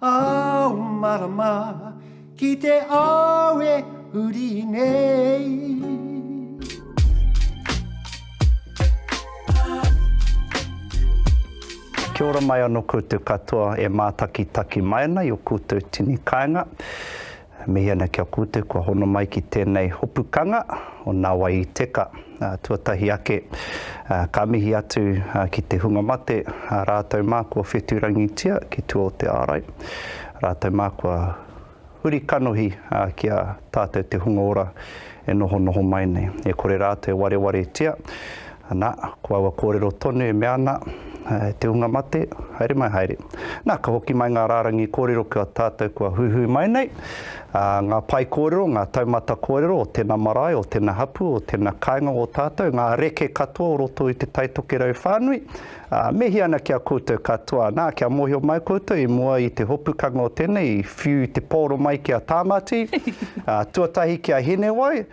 Ao marama ki te ao e huri nei. Kia ora mai ano koutou katoa e mātakitaki mai ana i o koutou tini kaenga. E mihi ana ki a koutou kua hono mai ki tēnei hopu kanga o Nā Wai i Teka. Tuatahi ake, ka mihi atu ki te hunga mate, rātou mā kua whetū rangitia ki tua o te ārai, rātou mā kua huri kanohi ki a tātou te hunga ora e nohonoho mai nei. E kore rātou e warewaretia, Ana, ko aua kōrero tonu e mea ana, E te hunga mate, haere mai haere. Na, ka hoki mai ngā rārangi kōrero ki a tātou kua huihui mai nei, ā, ngā pae kōrero, ngā taumata kōrero o tēnā marae, o tēnā hapū, o tēnā kāinga o tātou, ngā reke katoa o roto i te taitokerau whānui, Ā, mihi ana ki a koutou katoa, nā, kia mōhio mai koutou i mua i te hopukanga o tēnei, i whiu i te pōro mai ki a Tāmati, ā, tuatahi ki a Hinewai,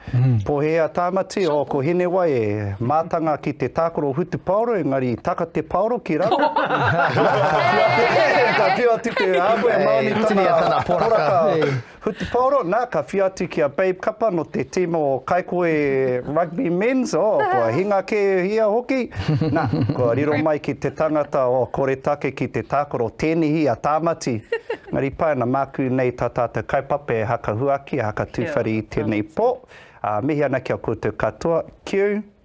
pohē a Tāmati, ō, ko Hinewai e mātanga ki te tākaro hutupaoro, engari i taka te paoro ki raro, ā, ka whiu atu te, ka whiu atu te, ā, koe, māni tana poraka. Hutipaoro, nā, ka whia atu ki a Babe Kapa nō te tīma o Kaikohe Rugby Men's, oh, kua hinga kē ia hoki. Nā, kua riro mai ki te tangata o Koretake ki te tākaro, tēnihi a Tāmati. Engari pāina, māku nei tā tātou kaupapa e hakahuaki, e hakatūwhare i tēnei pō. Ā, mihi ana ki a koutou katoa. Kiu.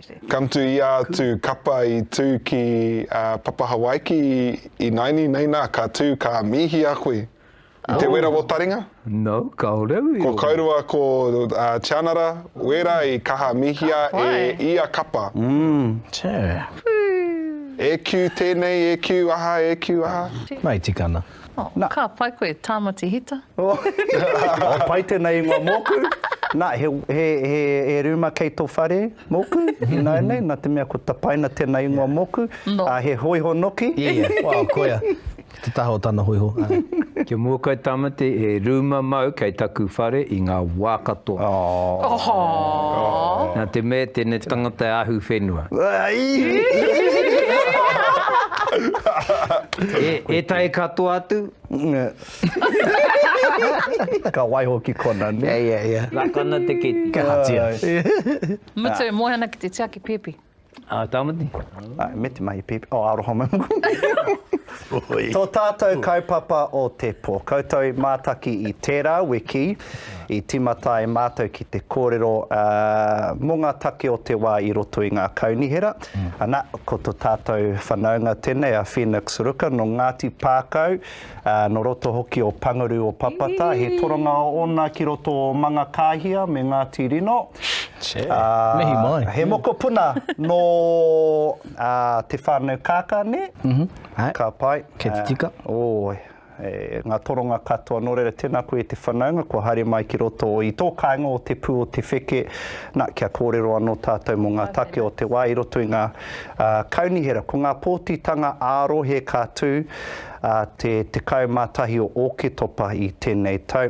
Te. Come to ia atu kapa i tū ki a Papahawaiki i naini nei nā ka tū ka mīhi a koe i te wera o taringa? No, kaore ui. Ko Kaurua ko a Tianara wera i kaha mihia e ia kapa. Mm, tē. E kiu tēnei e kiu aha e kiu aha. Mai tikana. Oh, ka pai koe, Tāmati Hita. Oh, pai tēnei ingoa mōku. Nā, he, he, he, he rūma kei tō whare mōku, ināianei, nā te mea ko tapaina tēnei ingoa mōku. No. Uh, he hoiho noki. Ia, ia, wow, koia. Te taha o tana hoiho. Kia mua koe Tamati, he rūma mau kei taku whare i ngā wā katoa. Oh. Oh. oh. Nā te mea tēnei tangata e ahu whenua. Etahi katoa atu. Ka waiho ki kona ne. Ia ia ia. Raka ana te keti. Kia hatia. Mutu e moe ana ki te tiaki pipi. A Tamati. Ae me te mahi pipi. Oh aroha mai mokona. To tatou kaupapa o te po. Koutou i mataki i tera wiki i timata ai matou ki te korero mo nga take o te wa i roto i nga kaunihera. Ana, ko to tātou whanaunga tenei a Phoenix Ruka no Ngāti Pākau, no roto hoki o Pangaru o Papata, he toronga ona ki roto o Mangakāhia me Ngāti Rino. Che, mihi mai. He mokopuna no te whānau Kākā, nē? Ka pai. Kei te tika. Oi. E nga toronga katoa no reira tena koe te whanaunga kua haere mai ki roto i to kainga o te pu o te wheke na kia korero ano tatou mo nga take o te wa i roto i nga kaunihera ko nga potitanga a rohe ka tu te 11 o oketopa i tenei tau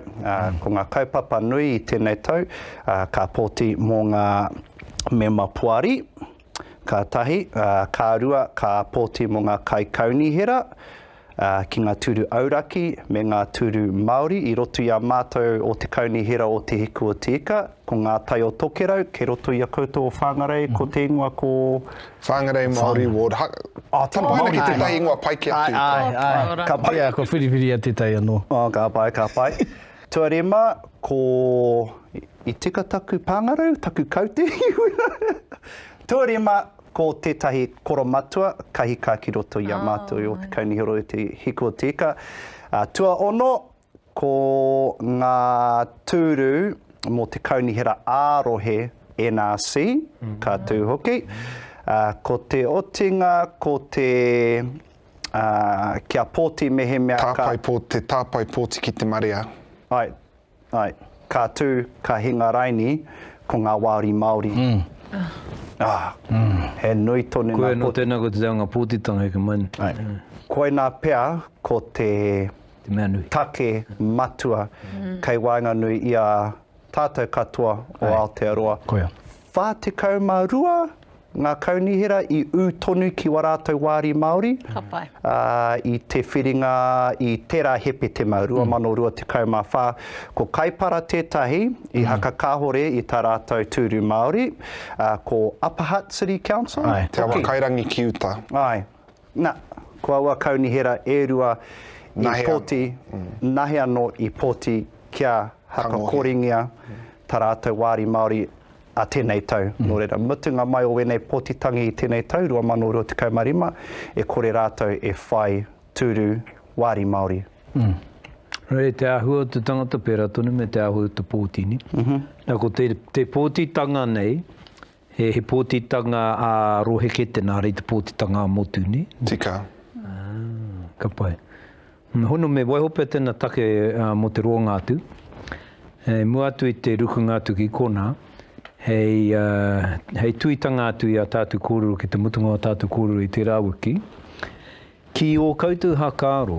ko nga kaupapa nui i tenei tau ka poti mo nga mema poari. Ka tahi, ka rua, ka pōti mō ngā kaikaunihera ki ngā tūru auraki me ngā tūru Māori i roto i a mātou o te Kaunihera o Te Hiku o Te Ika, ko ngā tai o Tokerau, kei roto i a koutou o Whāngarei, ko te ingoa ko? Whāngarei Māori Ward. Oh, te Māori. Tapaina ki tētahi ingoa pai ki a koutou. Āe, āe, āe. Ka pai. Ko Whiriwhiria tētahi anō. Oh, ka pai, ka pai. Tuare mā, ko I tika taku pāngarau, taku kaute i wera. Tuare mā, ko tētahi koromatua kahika ki roto i a mātou i Ōtekaunihero i te hiku o te ika. Tuaono, ko ngā tūru mō te kaunihera ā-rohe NRC, ka tū hoki. Ko te otinga, ko te. kia pōti mehemea ka. Tāpae pō, te tāpae pōti ki te marea. Ai, ai. Ka tū, ka hinga raini, ko ngā wāri Māori. Ah, he nui tonu ngā pōti. Koia, nō tēnā koe te reanga pōtitanga heke mai nei. Ai. Koinā pea ko te. Te mea nui. Take matua kei waenganui i a. tātou katoa o Aotearoa. 42 ngā kaunihera i ū tonu ki wā rātou wāri Māori i te whiringa i tērā Hepetema 2024. Ko Kaipara tētahi i haka kāhore i tā rātou tūru Māori, ko Upper Hutt City Council hoki. Te Awa Kairangi ki uta. Āe. Na, ko aua kaunihera e rua i poti, nahe ano i poti kia hakakoringia ta ratou wari Maori a tenei tau. No reira, mutunga mai o wenei potitangi i tenei tau, 2025, e kore ratou e whai turu wari Maori. No reira, te ahua o te tangata pera tonu me te ahua o te potini. Na, ko te potitanga nei, He pōtitanga ā-rohe kē tēnā, ara i te pōtitanga ā-motu, nē? Tika. Ka pai. Me hono, me waiho pea tēnā take mō te roanga atu. I mua atu i te rukunga atu ki konā, hei, hei tuitanga atu i ā tātou kōrero ki te mutunga o ā tātou kōrero i tērā wiki, ki ō koutou hākāro,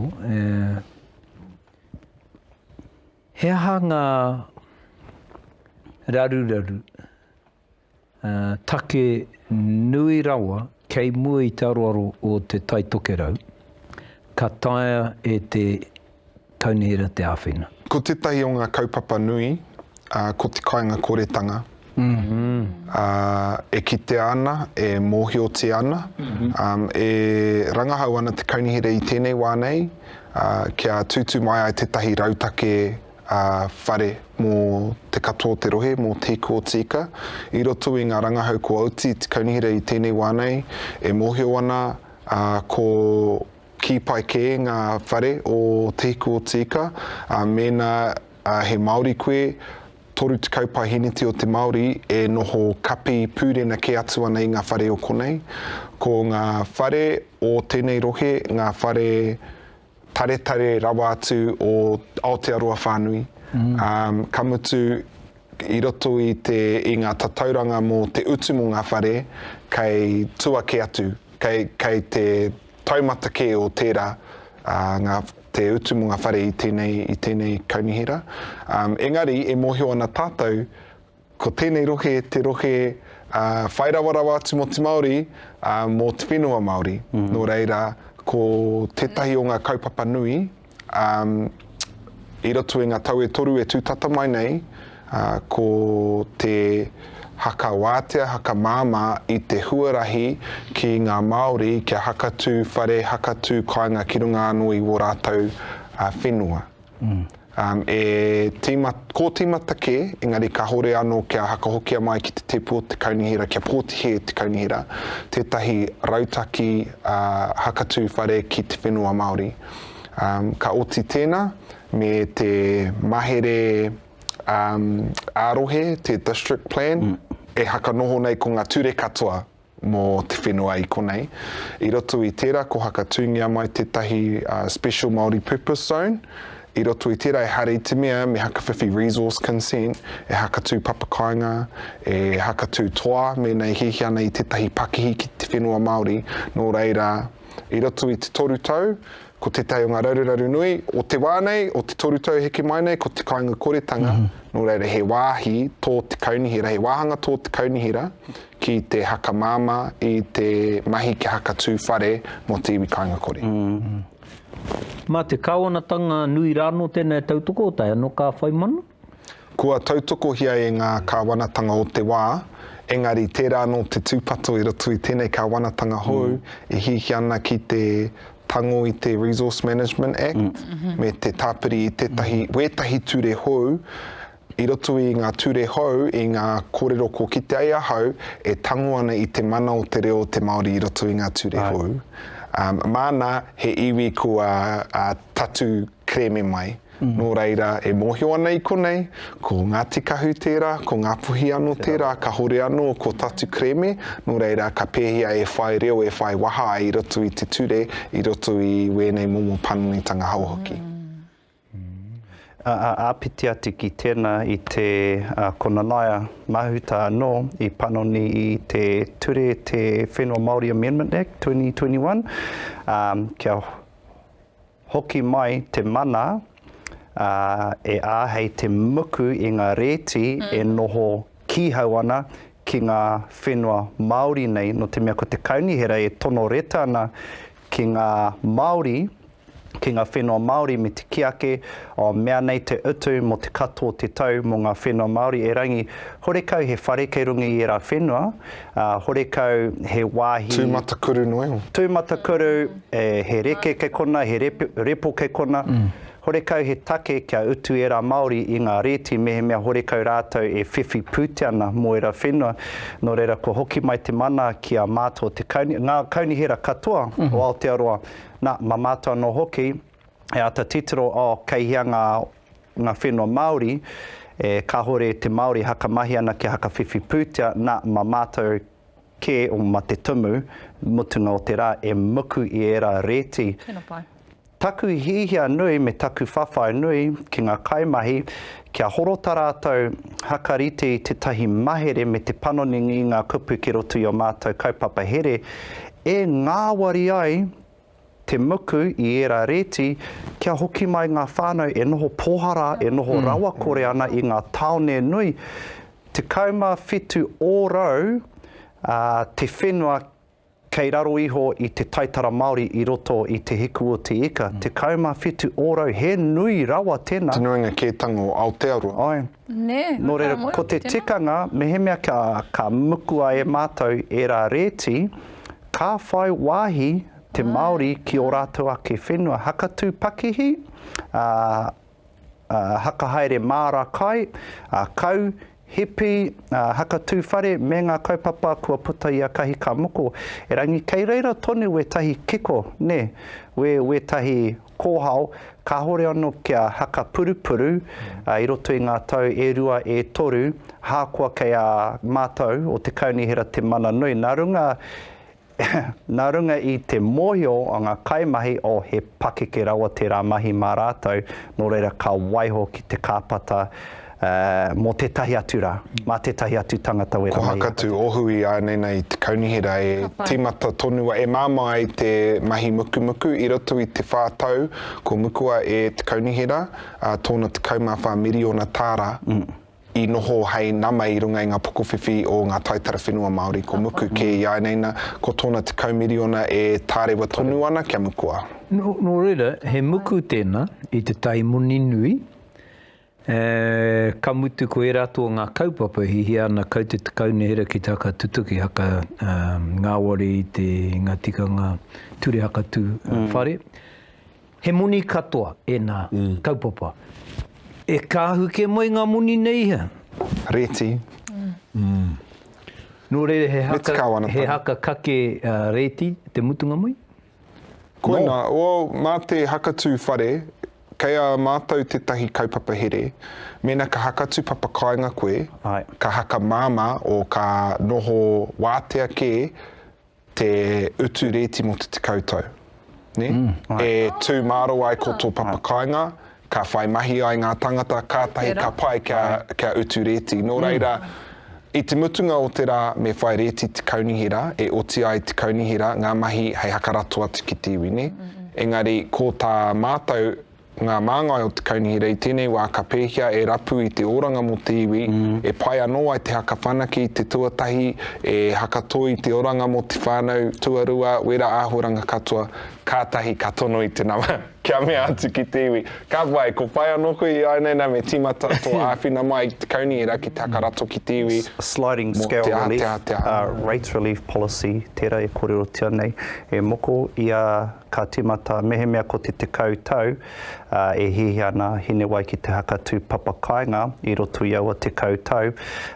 He aha ngā raruraru take nui rawa kei mua i te aroaro o te Tai Tokerau ka taea e te Kaunihera te āwhina? Ko tētahi o ngā kaupapa nui, ko te kāingakoretanga, ā, e kitea ana, e mōhiotia ana, e rangahau ana te kaunihera i tēnei wā nei kia tūtū mai ai tētahi rautake whare mō te katoa o te rohe, mō Te Hiku o Tīka. I roto i ngā rangahau kua oti te kaunihera i tēnei wā nei, e mōhio ana ko kī pai kē ngā whare o Te Hiku o Tīka, mēnā he Māori koe, Toru tekau paeheneti o te Māori e noho kapi pūrena kē atu ana i ngā whare o konei. Ko ngā whare o tēnei rohe ngā whare taretare rawa atu o Aotearoa whānui. Ka mutu, i roto i te, i ngā tatauranga mō te utu mō ngā whare, kei tua kē atu, kei, kei te, Taumata kē o tērā, ngā, te utu mō ngā whare i tēnei, i tēnei kaunihera. Engari, e mōhio ana tātou, ko tēnei rohe te rohe whai rawarawa atu mō te Māori, mō te whenua Māori. Nō reira, ko tētahi o ngā kaupapa nui, I roto i ngā tau e toru e tū tata mai nei, ko te hakawātea, hakamāmā i te huarahi ki ngā Māori kia hakatū whare, hakatū kāinga ki runga anō i wō rātou whenua. E kōtīmata kē, engari kāore anō kia hakahokia mai ki te tēpu o te kaunihera, kia pōtihe e te kaunihera tētahi rautaki hakatū whare ki te whenua Māori. Ka oti tēnā me te mahere ā-rohe, te District Plan, e whakanoho nei ko ngā ture katoa mō te whenua i konei. I roto i tērā ko whakatūngia mai tētahi Special Māori Purpose Zone, i roto i tērā ehara i te mea me hakawhiwhi resource consent, e hakatū papakāinga, e hakatū toa mēnā e hiahia ana i tētahi pakihi ki te whenua Māori, nō reira, I roto i te toru tau, ko tētahi o ngā raruraru nui o te wā nei, o te toru tau heke mai nei, ko te kāinga koretanga, mm -hmm. nō reira he wāhi tō te kaunihera, he wāhanga tō te kaunihera ki te haka māma i te mahi ki haka tū whare mō te iwi kāinga kore. Mm -hmm. Mā te kāwanatanga nui rāno tēnei tautoko o tai anō ka whai mana? Kua tautokohia e ngā kāwanatanga o te wā, engari tērā anō te tūpato i roto i tēnei kāwanatanga hou e hiahia ana ki te tango i te Resource Management Act me te tāpiri i tētahi, wētahi ture hou i roto i ngā ture hou, i ngā kōrero kua kite ai ahau e tango ana i te mana o te reo o te Māori i roto i ngā ture hou. Māna he iwi kua tatū kerēme mai. Nō reira, e mōhio ana i konei, ko Ngāti Kahu tērā, ko Ngāpuhi anō tērā, kāore anō ko tātu kerēme, nō reira, ka pēhia e whai reo, e whai waha ai i roto i te ture, i roto i wēnei momo panonitanga hou hoki. Āpiti atu ki tēnā i te ko Nanaia Mahuta anō i panoni i te ture te Whenua Māori Amendment Act 2021, kia. Hoki mai te mana, ā, e āhei te muku i ngā rēti e noho kīhau ana ki ngā whenua Māori nei, nō te mea ko te Kaunihera e tono reta ana ki ngā Māori, ki ngā whenua Māori me te kī ake, o, mea nei te utu mō te katoa o te tau mō ngā whenua Māori, erangi, horekau he whare kei runga i ērā whenua, Ā, horekau he wāhi. Tūmatakuru noa iho. Tūmatakuru, e, he reke kei konā, he repe, repo kei konā. Horekau he take kia utu ērā Māori i ngā rēti mehemea horekau rātou e whiwhi pūtea ana mō ērā whenua. Nō reira, kua hoki mai te mana ki a mātou o te kauni, ngā kaunihera katoa o Aotearoa, nā, mā mātou anō hoki, he ata titiro oh kei hea nga nga whenua Maori e kahore te Maori e hakamahi ana kia hakawhiwhi pūtea na ma matou ke oh ma te tumu mutunga o te ra e muku i era reti Tena pai. Taku hihia nui me taku whawhai nui ki nga kaimahi kia horo ta ratou hakarite i tetahi mahere me te panoningii nga kupu ki roto i o matou kaupapa here e ngawari ai te muku i ērā rēti kia hoki mai ngā whānau e noho pōhara, e noho rawakore ana i ngā tāone nui. 17 ōrau te whenua kei raro iho i te taitara Māori i roto i Te Hiku o Te Ika. 17 ōrau, he nui rawa tēnā. Te nuinga kētanga o Aotearoa. Āe. Nō reira, ko te tikanga, mehemea ka mukua e mātou ērā rēti, ka whai wāhi te Māori ki ō rātou ake whenua hakatū pakihi, hakahaere māra kai, kau, hipi, hakatū whare me ngā kaupapa kua puta i a Kahi Ka Moko. Erangi, kei reira tonu wētahi kiko, nē, wētahi Kōhao, kāhore anō kia haka purupuru i roto i ngā tau e rua, e toru, ahakoa kei a mātou o te Kaunihera te mana nui. Nā runga, nā runga i te mōhio o ngā kaimahi o he pakeke rawa tērā mahi mā rātou, nō reira ka waiho ki te kāpata Ā, mō tētahi atu rā, mā tētahi atu tangata wera mai i a tātou. Kohakatu, ohu i ānei nei te kaunihera e tīmata tonu ai, e māmā ai te mahi mukumuku. I roto i te whā tau kua mukua e te kaunihera tōna tekau mā whā miriona tāra i noho hei nama i runga i ngā pokowhiwhi o ngā taitara whenua Māori kua muku kē i ānei nā, ko tōna tekau miriona e tārewa tonu ana kia mukua. Nō reira, he muku tēnā i te tai moni nui, E, ka mutu ko ērā tō ngā kaupapa e hihia ana kau te takaunihera ki te hakatutuki, haka ngāwari i te ngā tikanga ture hakatū whare. He moni katoa ēnā kaupapa. E kāhu kē mai ngā moni nei ia? Rēti. Nō reira he haka kake rēti te mutunga mai? Koinā, well, mā te hakatū whare, kei a mātou tētahi kaupapa here, mēnā ka hakatū papakāinga koe, Aye. ka hakamāmā o ka noho wātea kē te utu rēti mō te tekau tau. Ne? Mm, e tū māro ai ko tō papakāinga, Ka whai mahi ai ngā tangata, kātahi ka pai kia, kia utu rēti. Nō reira, i te mutunga o te rā me whai rēti te kaunihi rā, e oti ai te kaunihi rā ngā mahi hei hakarato atu ki te iwi, nē? Engari, ko tā mātou ngā māngai o te kaunihi rā i tēnei wā ka pēhia e rapu i te oranga mō te iwi, e pai anō ai te haka whanake i te tuatahi, e haka toi i te oranga mō te whānau, tuarua, wera āhuaranga katoa, kātahi ka tono i te nama. Kia mea atu ki te iwi, Ka pai, ko pai anō koe i āinei nā me tīmata tō āwhina mai i te kaunihera ki te haka rato ki te iwi mō te āteatea. Rates Relief Policy, tērā e kōrerotia nei, e moko i a ka tīmata mehemea ko te tekau tau e hiahia ana Hinewai ki te haka tūpapa kāinga i roto i aua tekau tau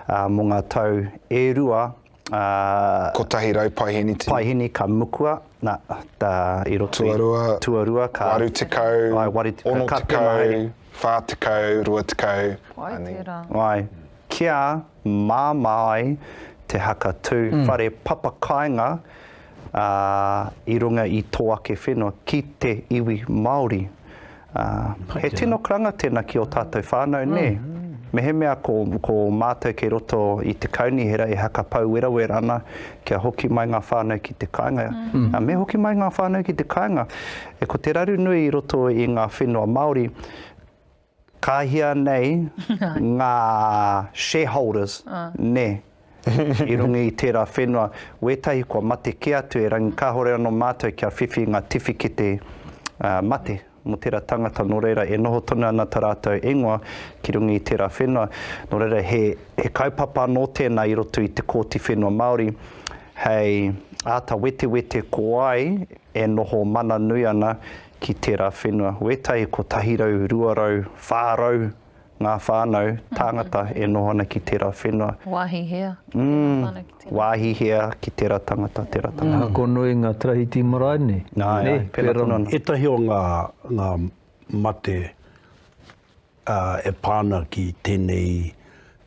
mō ngā tau e rua Kotahi rau paihini tini. Paihini ka mukua, na, ta, i roto i. Tuarua. Tuarua ka. Waru tekau. Ai, waru tekau. Ono tekau, wha tekau, rua tekau. Ai tera. Ai, kia mama ai te haka tu whare papa kainga. ā, i runga i tō ake whenua ki te iwi Māori. Ā, he tino karanga tēnā ki ō tātou whānau, nē? Mehemea ko, ko mātou kei roto i te Kaunihera e hakapau werawera ana kia hoki mai ngā whānau ki te kāinga, ā, me hoki mai ngā whānau ki te kāinga, e ko te raru nui i roto i ngā whenua Māori, Ka hia nei nga shareholders, ne, i runga i tera whenua, wetahi kua mate ke atu e rangi kahore ano matou kia whiwhi nga tiwhikete mate mo tera tangata no reira e noho tonu ana ta ratou ingoa ki runga i tera whenua no reira he kaupapa ano tena i roto i te Kooti Whenua Maori hei ata wetewete ko ai e noho mana nui ana Ki tērā whenua, wētai 100, 200, 400 ngā whānau, tāngata e noho ana ki tērā whenua. Wāhi hea ki tērā whānau, ki tērā. Wāhi hea ki tērā tangata, tērā tangata. Ka ako noa i ngā tarahiti marae nei. Nā, pēnā tonu ana. Ētahi o ngā mate. ā, e pā ana ki tēnei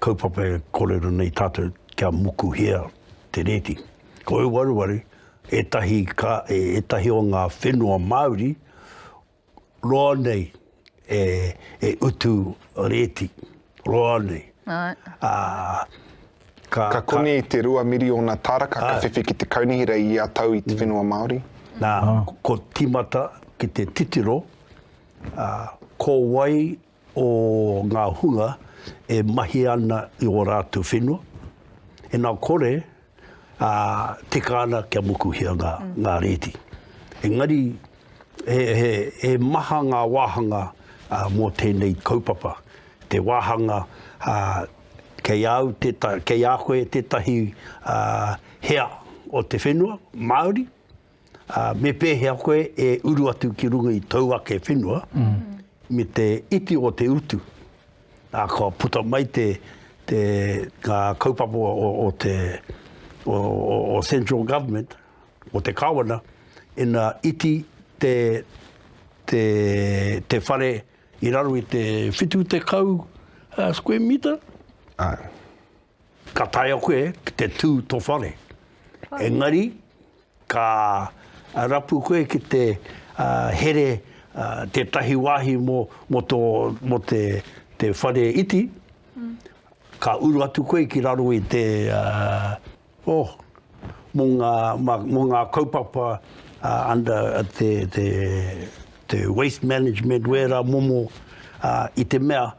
kaupapa e kōrero nei tātou kia mukuhia te rēti. Ko Euaruwaru ētahi ka, ētahi o ngā whenua Māori roa nei e, e utu rēti, roa nei. Right. Ā, ka, ka konei ka, te rua miriona taraka ka whiwhi ki te kaunihi rei ia tau i te whenua Māori. Nā, ko tīmata ki te titiro, Ā, ko wai o ngā hunga e mahi ana i ō rātou whenua? Ina kore, ā, tika ana kia mukuhia ngā, ngā rēti. Engari, he, he, he maha ngā wāhanga ā, mō tēnei kaupapa. Te wāhanga, ā, kei a au tētahi, kei a koe tētahi, ā, hea o te whenua Māori, ā, me pēhea koe e uru atu ki runga i tōu ake whenua me te iti o te utu, ā, kua puta mai te, te, ngā kaupapa o, o te, o, o, o Central Government, o te Kāwana, ina iti te, te, te whare i raro i te 70 square metre? Āe. Ka taea koe ki te tū tō whare. Engari, ka rapu koe ki te here tētahi wāhi mō tō, mō te, te whare iti, mm. ka uru atu koe ki raro i te, uh, oh, mō ngā, mō ngā kaupapa uh, under uh, te, te, te waste management, wērā momo uh, i te mea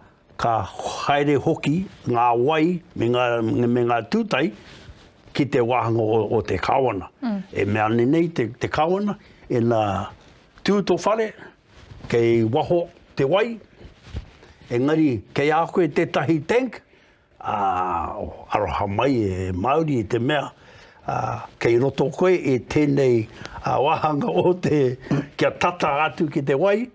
Ka haere hoki ngā wai me ngā tūtai ki te wāhanga o te Kāwana. E mea ana nei te Kāwana, ina tū tō whare, kei waho te wai, engari kei a koe tētahi tank, aroha mai e Māori i te mea, kei roto koe i tēnei wāhanga o te, kia tata atu ki te wai,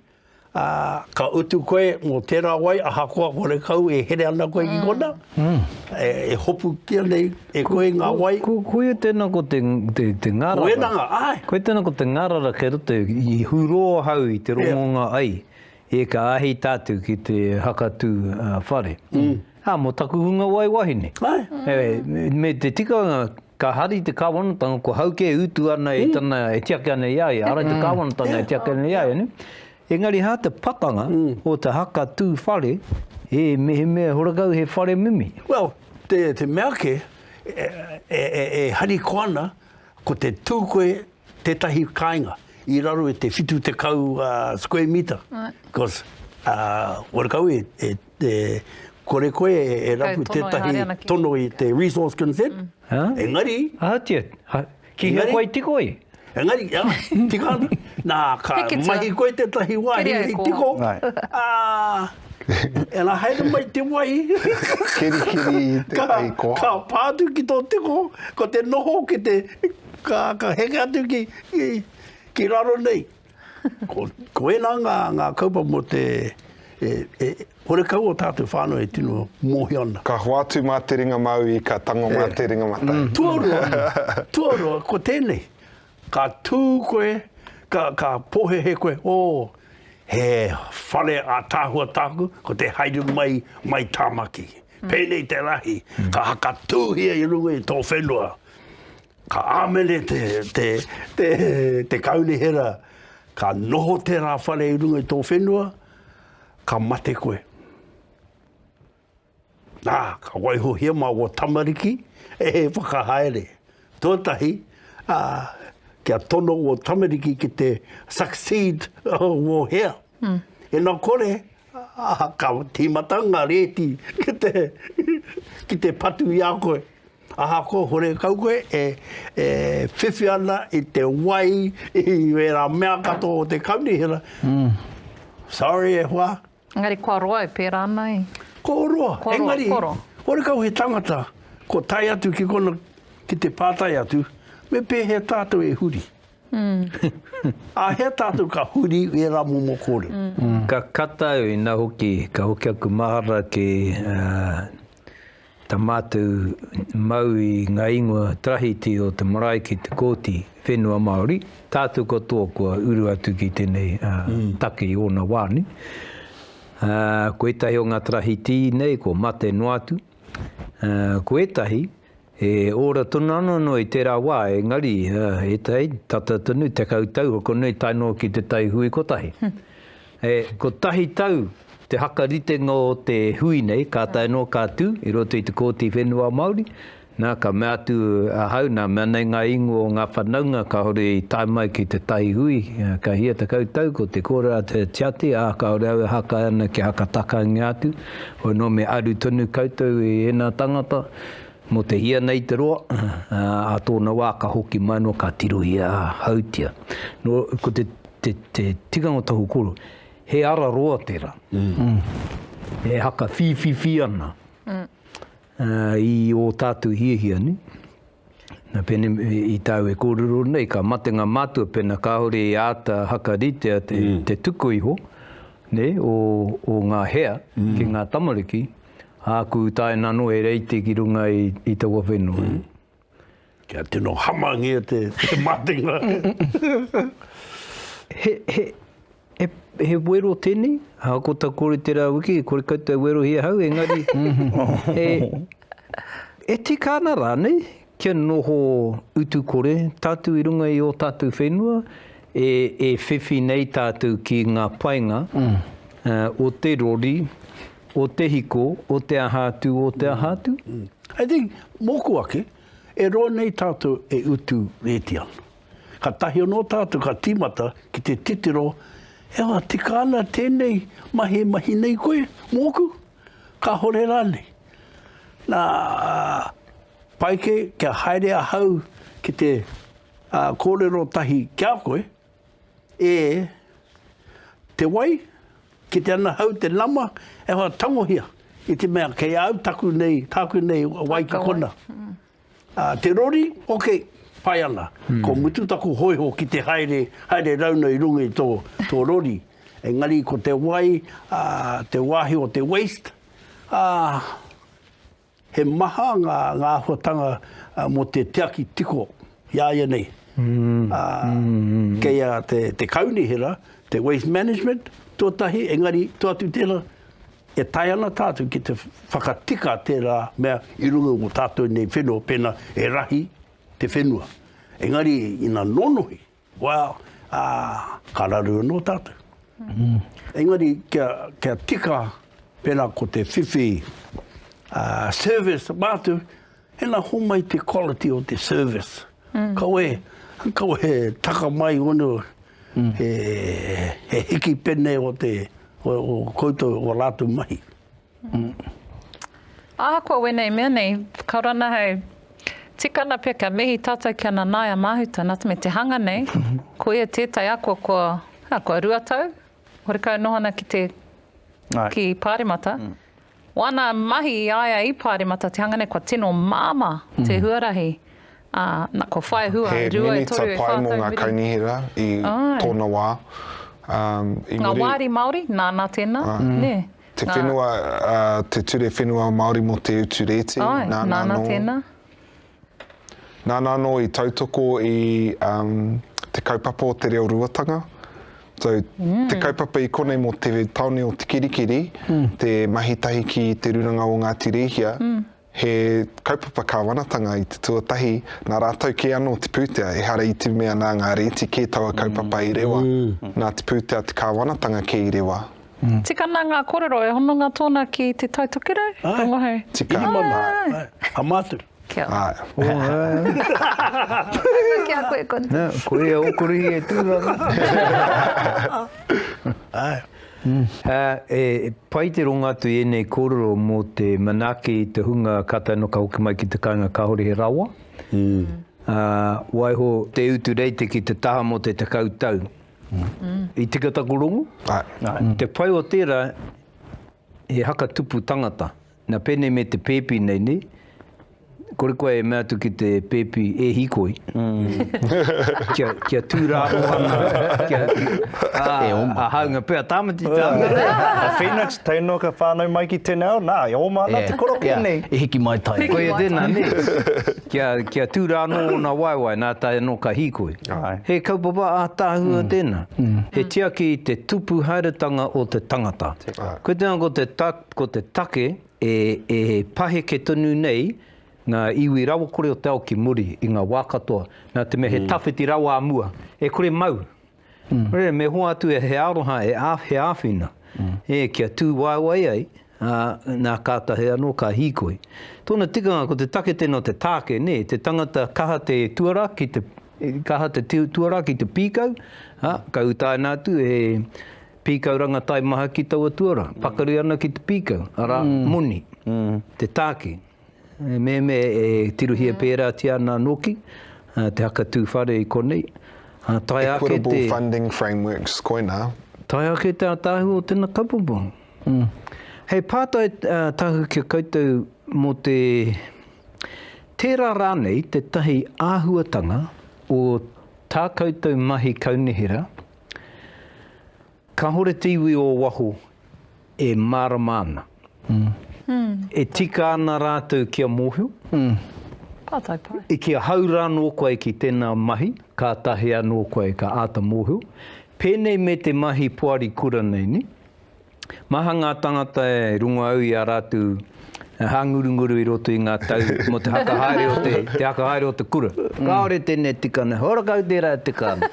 Ā, ka utu koe mō tērā wai, ahakoa horekau e here ana koe ki konā, e hopukia nei e koe ngā wai. Koia tēnā ko te ngarara. Ko enanga, āe. Koia tēnā ko te ngarara kei roto, i hurō ahau i te rongonga ai, e ka āhei tātou ki te hakatū whare. Ā, mō taku hunga wai wahine. Āe. Me te tikanga Ka hari te Kāwanatanga, ko Haukē e utu ana e tana, e tiaki ana i a ia, ara i te Kāwanatanga e tiaki ana i a ia, nē? Engari hā te pakanga o te haka tū whare, ē, mehemea horekau he whare mimi. Well, te, te mea kē, e, e, e, e harikoa ana, ko te tū koe tētahi kāinga i raro i te 70 square metre, because wera kau e, e, e kore koe e rapu tētahi tono i te resource consent, mm. huh? engari... Ahatia, ha, ki hea koe tiko i? Engari, ya, tika ana. Nā, ka mahi koe tētahi wāhi i tiko. Ah, e la haere mai te wai. kiri kiri te ka, ko. Ka pātu ki tō tiko, ko te noho ki te Ka heke atu ki, ki, ki raro nei. Ko, ko ena nga, nga kaupa mo te, e, e, hore kau o tātou whānau e tino mōhio ana. Ka hoatu mā te ringa māui, ka tango e. mā te ringa matai. Mm. Tuarua, tuarua, ko tēnei. Ka tū koe, ka, ka pōhehe koe, o, oh, he whare a tāhua tāku, ko te haere mai, mai Tāmaki. Mm. Pēnei te rahi, mm. ka hakatūhia i runga i tō whenua. Ka āmene te, te, te, te kaunihera, ka noho tērā whare i runga i tō whenua, ka mate koe. Nā, ka waihohia mā wā tamariki, e he whakahaere. Tōtahi, ā, kia tono wā tamariki ki te succeed wō hea. Mm. E nā kore, Ā, ka tīmata ngā rēti ki te, ki te patu i a koe. Ahakoa horekau koe e, e whiwhi ana i te wai, i wērā mea katoa o te kaunihera. Mm. Sorry e hoa. Engari kua roa e pērā ana e? Ko roa. Ko roa, Engari, ko roa. Horekau he tangata, ko tae atu ki kona, ki te pātai atu, me pēhea tātou e huri? Āhea tātou ka huri i ērā momo kōrero? Ka kata au inā hoki ka hoki aku mahara ki tā mātou mau i ngā ingoa tarahiti o te marae ki te Kōti Whenua Māori, tātou katoa kua uru atu ki tēnei take i ōna wā nei. Ko ētahi o ngā tarahiti nei kua mate noa atu, ko ētahi E ora tonu ana noa i tērā wā, engari, e tai, tata tonu, tekau tau hoko nei tae noa ki te tai hui kotahi. E kotahi tau te hakaritenga o te hui nei, ka tae noa ka tū i roto i te Kōti Whenua Māori, nā, ka mea atu ahau, nā, mea nei ngā ingoa o ngā whanaunga kāore i tae mai ki te tai hui, ka hia tekau tau, ko te kōrero a Te Tiati, ā, kāore au e haka ana kia hakatakangia atu, hoi nō me aru tonu koutou i ēnā tangata, Mō te hia nei te roa, ā tōna wā ka hoki mai noa ka tirohia hautia. Nō, ko te, te, te tikanga tohu koro, he ara roa tērā. Mm. E haka whīwhiwhi ana. Mm. Uh, i ō tātou hiahia ni. Na pene i tāu e kōrero nei, ka mate ngā mātua pena kāore i āta hakaritea te, mm. te tuku iho, ne, o, o ngā hea mm. ki ngā tamariki. Āku utaina anō he reiti ki runga i taua whenua. Mm. Kia tino hamangia te, te matenga. he, he, he, he wero tēnei, ha ko ta kore te rā wiki, kore koutou werohia hau, engari, e, e tika ana rānei, Kia noho utu kore tatu i runga i o tatu whenua, e e whiwhi nei tatu ki nga painga o te rori, o te hiko, o te aha atu, o te aha atu. I think, moku ake, e roa nei tatu e utu reti ana. Ka tahi ano tatu ka timata ki te titiro, e wa, tika ana tenei mahi e mahi nei koe, moku? Kahore ranei? Na. Pai kē kia haere ahau ki te kōrero tahi ki a koe, e te wai, kite ana ahau te nama e hoa tangohia i te mea kei a au taku nei, tāku nei wai ki kona. Te rori, ok, pai ana, ko mutu taku hoiho ki te haere, haere rauna i runga i tō rori, engari ko te wai, te wāhi o te waste, He maha ngā āhuatanga mō te tiaki tiko i a ia nei. Kei a te kaunihera, te Waste Management, tuatahi, engari to atu tēnā, e tae ana tātou ki te whakatika tērā mea i runga i o tātou nei whenua pēnā e rahi te whenua. Engari ina nōnohi. Well, ā, ka raru anō tātou. Engari kia, kia tika, pērā ko te whiwhi ā, service mātou, hena homai te quality o te service. Kaua e, kaua e taka mai unu he, he hiki pene o te, o, o koutou, o rātou mahi. Ahakoa wēnei mea nei, ka rana hei, tika ana pea kia mihi tātou ki a Nanaia Mahuta, nā te mea te hanga nei, ko ia tētai ako kua, hea, kua rua tau, horekau noho ana ki te, ki Pāremata. Wāna mahi i a ia i Pāremata, te hanga nei kua tino māmā te huarahi, ā, na, kua whai hua, e rua, e toru, e whā tau. He minita pai mō ngā kaunihera i tōna wā, i muri. Ngā wāri Māori, nāna tēnā, nē. Te whenua, te ture whenua Māori mō te utu rēti. Ai, nāna, nāna tēnā. Nāna anō i tautoko i um, te kaupapa o te reo ruatanga. So, mm. te kaupapa i konei mō te taone o Tikirikiri, mm. te mahitahi ki te ruranga o Ngāti Rēhia, mm. He kaupapa kāwanatanga i te tuatahi, nā rātou kē anō te pūtea, ehara i te mea nā ngā rēti kē taua kaupapa i rewa, nā te pūtea te kāwanatanga kē i rewa. Tika nā ngā kōrero, e hononga tōna ki te Tai Tokerau? Rongo hei. Āe, tika. Āe. Āe. Āe. Āe. Ka māturi. Kia ora. Āe. Ō, āe. Āe, ki a koe koutou. Nā, koe ia ō korohī e tū ana. Āe. He pai te rongo atu i ēnei kōrero mō te manaaki i te hunga kātahi anō ka hoki mai ki te kāinga kāore he rawa. Waiho te utu reite ki te taha mō te tekau tau. I tika taku rongo? Te pai o tērā, he haka tupu tangata. Na penei me te pepi nei ne. Kore koe e mea atu ki te pepi e hikoi. Kia kia tu raro ana kia e oma. A haunga pea tamati tana. A Phoenix tei noa ka whanau mai ki tena ao na e oma ana te korokia nei. E hiki mai tae. Koia tena ne. Kia kia tu ra no ona waewae na tae no ka hikoi. He kaupapa atahua tena. He tiaki i te tupu haeretanga o te tangata. Koe tena ko te. Ko te take, e paheke tonu nei ngā iwi rawakore o te ao ki muri i ngā wā katoa, nā te mea he tawhiti rawa a mua, e kore mau. Nō reira, me hoa atu he aroha, he āwhina, kia tūwaewae ai, ā, nā kātahi anō ka hīkoi. Tōna tikanga, ko te take tēnā o te tāke, te tangata kaha te tuarā, kaha te tuarā ki te pīkau, ā, ka utaina atu e Pīkau rangatai maha ki taua tuarā. Pakari ana ki te pīkau, arā, moni, te tāke. E mehemea e tirohia pērātia ana nōki te hakatū whare i konei, ā, tae ake te. Equitable funding frameworks, koinā. Tae ake te ātaahua o tēnā kaupapa. He pātai tahu ki a koutou mō te, tērā rānei tētahi āhuatanga o tā koutou mahi kaunihera, Kahore te iwi o waho e marama ana. E tika ana ratou kia mohio. I kia hau ra no koe ki tena mahi, katahi ano koe ka ata mohio. Penei me te mahi poari kura nei ni. Maha ngā tangata e rongo au i a rātou hāngurunguru i roto i ngā tau mō te haka haere o te, te haka haere o te kura. Kāore tēnei tika nei, ora kau tērā e tika ana.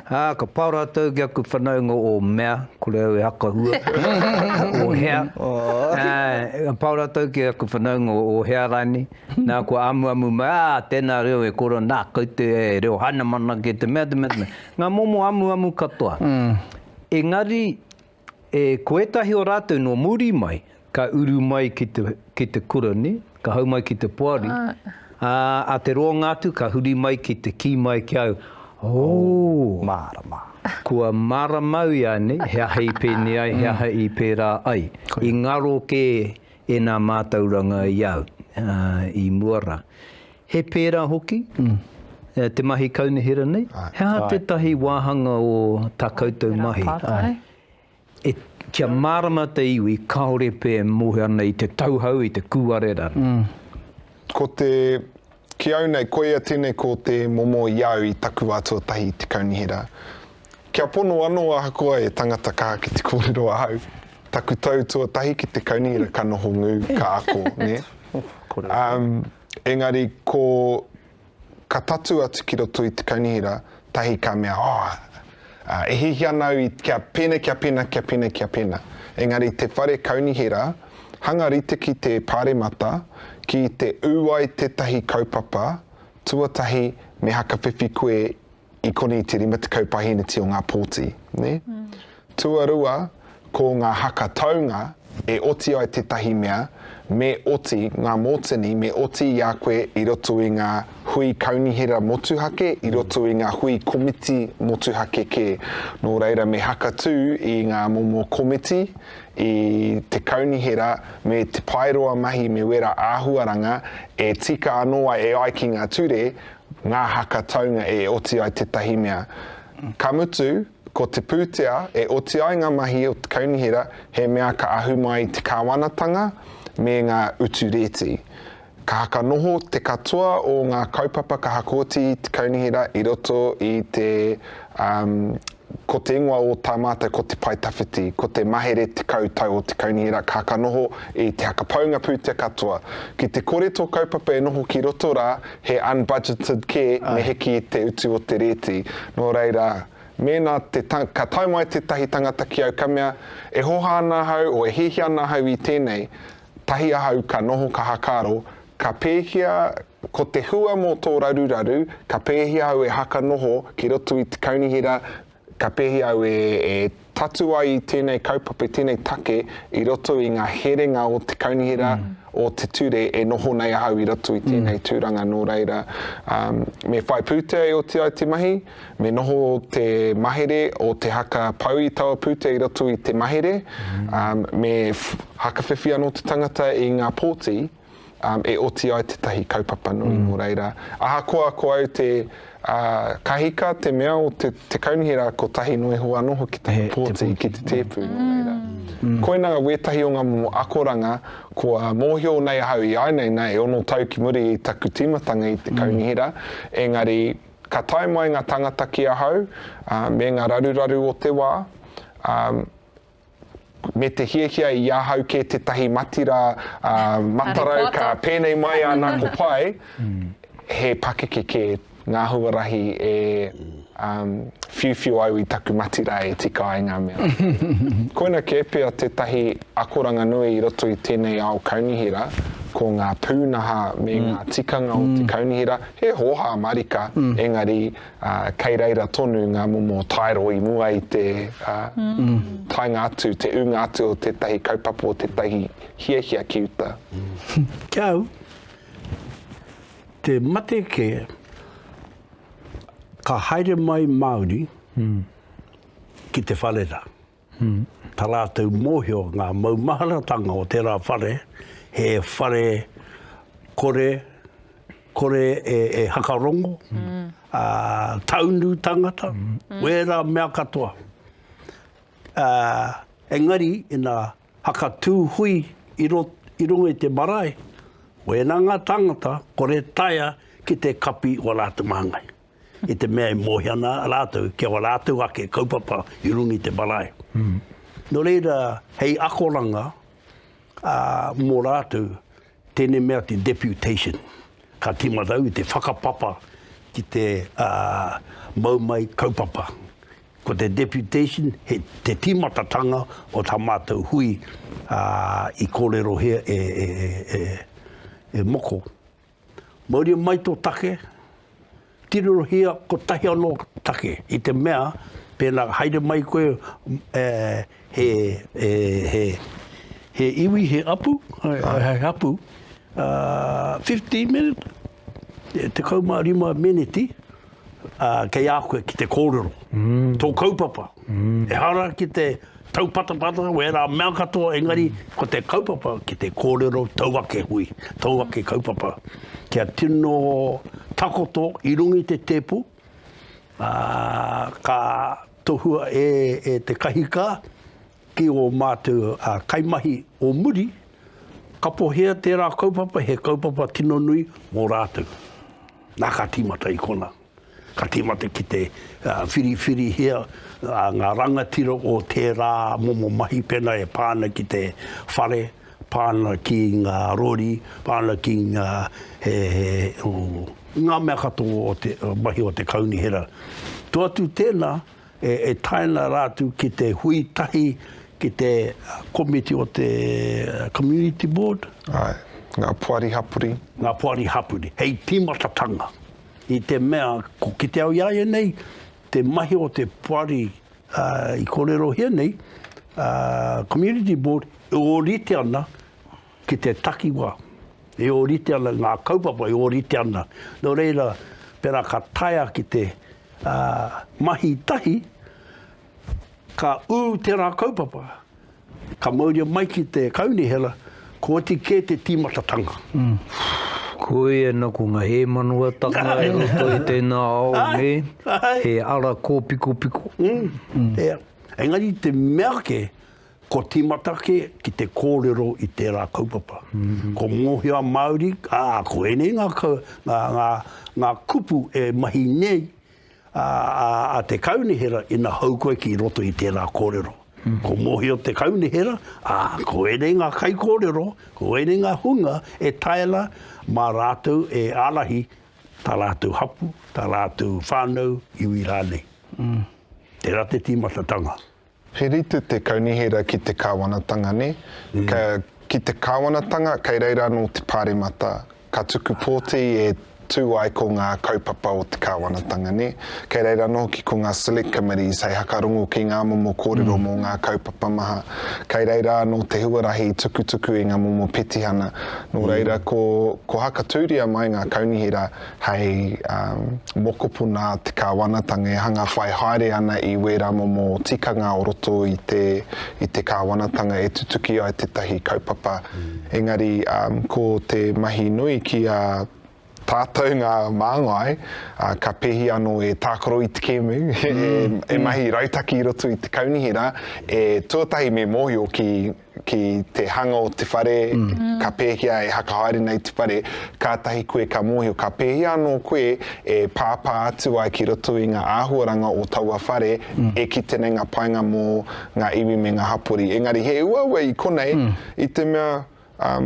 Ā, ka pā rātou ki aku whanaunga o mea, kore au e hakahua, o hea. Ka pā rātou ki aku whanaunga o hea rānei. Nā, kua amuamu mai, ā, tēnā reo e koro, nā, kau te reo Hainamana kē, te mea, te mea, te mea. Ngā momo amuamu katoa. Engari, E, ko ētahi o rātou nō muri mai, ka uru mai ki te, ki te kura, nē, ka hau mai ki te poari, ā, a te roanga atu ka huri mai ki te kī mai ki au, Ō! Mārama. Kua māramau ia, nē, he aha i pēnei ai, he aha i pērā ai. I ngaro kē ēnā mātauranga i au, ā, i mua rā. He pērā hoki te mahi kaunihera nei? He aha tētahi wāhanga o tā koutou mahi? He aha tērā pātai? Kia mārama te iwi, kāore pea e moe ana i te tauhou, i te kūare rānei. Ko te, ki au nei, koia tēnei ko te momo i au i taku wā tuatahi i te kaunihera. Kia pono anō ahakoa e tangata ka ki te kōrero ahau, taku tau tuatahi ki te kaunihera ka noho ngū, ka ako, nē? Ā, Engari ko ka tatu atu ki roto i te kaunihera tahi ka mea oh e hihi ana au kia pena kia pena kia pena kia pena engari te whare kaunihera hanga rite ki te paremata ki te u ai tetahi kaupapa tuatahi me hakawhiwhi koe i koni te rima tekau pahiniti o ngā pōti, nē? Tuarua, ko ngā haka taunga, e oti ai tētahi mea, me oti ngā mōtini, me oti i a koe i roto i ngā hui kaunihera motuhake, i roto i ngā hui komiti motuhake kē. Nō reira, me haka tū i ngā momo komiti, i te kaunihera, me te paeroa mahi, me wera āhuaranga, e tika anō ai e ai ki ngā ture, Ngā haka taunga e oti ai tētahi mea. Ka mutu, ko te pūtea e oti ai ngā mahi o te kaunihera he mea ka ahu mai i te kāwanatanga me ngā utu rēti. Ka haka noho te katoa o ngā kaupapa ka hakooti i te kaunihera i roto i te, um, Ko te ingoa o tā mātou ko Te Pae Tawhiti, ko te mahere tekau tau o te kaunihera ka ka noho i te hakapaunga pūtea katoa. Ki te kore tō kaupapa e noho ki roto rā, he unbudgeted kē me hiki i te utu o te rēti. Nō reira, mēnā te ka tae mai tētahi tangata ki au ka mea, e hoha ana ahau o e hiahia ana ahau i tēnei, Tahi ahau ka noho ka hakaro, ka pēhia ko te hua mō tō raruraru, ka pēhia au e haka noho ki roto i te kaunihera, ka pēhia au e tatu ai i tēnei kaupapa, tēnei take i roto i ngā herenga o te kaunihera, o te ture e noho nei ahau i roto i tēnei tūranga nō reira me whai pūtea e oti ai te mahi. Me noho te mahere o te haka pou i taua pūtea i roto i te mahere, me hakawhiwhi anō te tangata i ngā pōti e oti ai tētahi kaupapa nui. Nō reira, ahakoa ko au te kahika, te mea o te kaunihera rā, kotahi noa iho anō hoki taku pōti ki te tēpu. Nō reira, koinā wētahi o ngā momo akoranga kua mōhio nei ahau i āianei, nā, e ono tau ki muri i taku tīmatanga i te kaunihera, engari, Ka tae mai nga tangata ki ahau, me nga raruraru o te wa, me te hiahia i ahau ke tetahi mati ra matarau ka penei mai ana ko pai, he pakeke ke nga huarahi e whiuwhiu au i taku mati ra e tika ai nga mea. Koina ke pea tetahi akoranga nui i roto i tenei ao kaunihera, ko nga punaha me nga tikanga o te kaunihera He hōhā marika, engari kei reira tonu ngā momo taero i mua i te taenga atu, te ūnga atu o tētahi kaupapa, o tētahi hiahia ki uta. Ki a au, te mate kē, ka haere mai Māori ki te whare rā. Tā rātou mōhio ngā maumaharatanga o tērā whare, he whare kore, kore e, e hakarongo, mm. a, taunu tangata, mm. wērā mea katoa. A, engari, ina hakatū hui i, ro, i runga i te marae, wēnā ngā tangata, kore taia ki te kapi o rātou māngai. i te mea e mōhia ana rātou ki a rātou ake kaupapa i runga i te marae. Mm. Nō reira, hei akoranga uh, mō rātou, tēnei mea te deputation. Ka tīmata au i te whakapapa ki te uh, mau mai kaupapa. Ko te deputation, he te tīmatatanga o tā mātou hui uh, i kōrero hea e, e, e, e, e moko. Mauria mai tō take, tirohia kotahi anō take, i te mea, pēnā haere mai koe e, he, e, he, he iwi, he apu, he, he apu, uh, 15 minutes, te kaumā rima meneti, kei a koe ki te kōrero. Mm. Tō kaupapa. Mm. E hara ki te tau patapata o ērā mea katoa, engari mm. ko te kaupapa ki te kōrero tau ake hui, tau ake kaupapa. Kia tino takoto i rungi te tēpu, uh, ka tohua e, e te kahika, Ki ō mātou kaimahi o muri, kapohia tērā kaupapa, he kaupapa tino nui mō rātou. Nā, ka tīmata i konā. Ka tīmata ki te whiriwhirihia ngā rangatira o tērā momo mahi pēnā e pā ana ki te whare, pā ana ki ngā rori, pā ana ki ngā, he, he, ngā mea katoa o te mahi o te kaunihera. Tuatu tēnā, E tae ana rātou ki te hui tahi ki te komiti o te Community Board. Āe, ngā poari hapori. Ngā poari hapori, hei tīmatatanga. I te mea, ko ki te ao i a ia nei, te mahi o te poari i kōrerohia nei, Community Board, e ōrite ana Ki te takiwa, e ōrite ana ngā kaupapa, e ōrite ana. Nō reira, pērā ka taea ki te mahi tahi, ka ū tērā kaupapa, ka mauria mai ki te kaunihera, ko oti kē te tīmatatanga. Koia nā, ko ngā hēmanawa-tanga i roto i tēnā ao nei, he ara kōpikopiko. Engari te mea ake, Kua tīmata kē ki te kōrero i tērā kaupapa. Ko Mōhio Māori, ā, ko ēnei ngā, ngā, ngā, ngā kupu e mahi nei a, a, a te kaunihera ina hou koe ki roto i tērā kōrero. Ko Mōhio te kaunihera, ā, ko ēnei ngā kaikōrero, ko ēnei ngā hunga e taera mā rātou e ārahi tā rātou hapū, tā rātou whānau, iwi rānei. Mm. Tērā te tīmatatanga. He rite te kaunihera ki te Kāwanatanga nē? Ka, ki te Kāwanatanga, kei reira anō te Pāremata, ka tuku pōti e tū ai ko ngā kaupapa o te Kāwanatanga nē? Kei reira anō hoki ko ngā Select Committees hei hakarongo ki ngā momo kōrero mō ngā kaupapa maha. Kei reira anō te huarahi i tukutuku i ngā momo petihana. Nō reira, ko, ko hakatūria mai ngā kaunihera, hei mokopuna a te kāwanatanga e hanga whai haere ana i wērā momo tikanga o roto i te i te kāwanatanga e tutuki ai tētahi kaupapa. Engari ko te mahi nui ki a tātou ngā māngai, ka pēhi anō e tākaro i te kēmu, e mahi rautaki i roto i te kaunihera, e tuatahi me mōhio ki ki te hanga o te whare, ka pēhea e whakahaere nei te whare, kātahi koe ka mōhio ka pēhea anō koe e pāpā atu ai ki roto i ngā āhuaranga o taua whare e kite nei ngā painga mō ngā iwi me ngā hapori. Engari he uaua i konei i te mea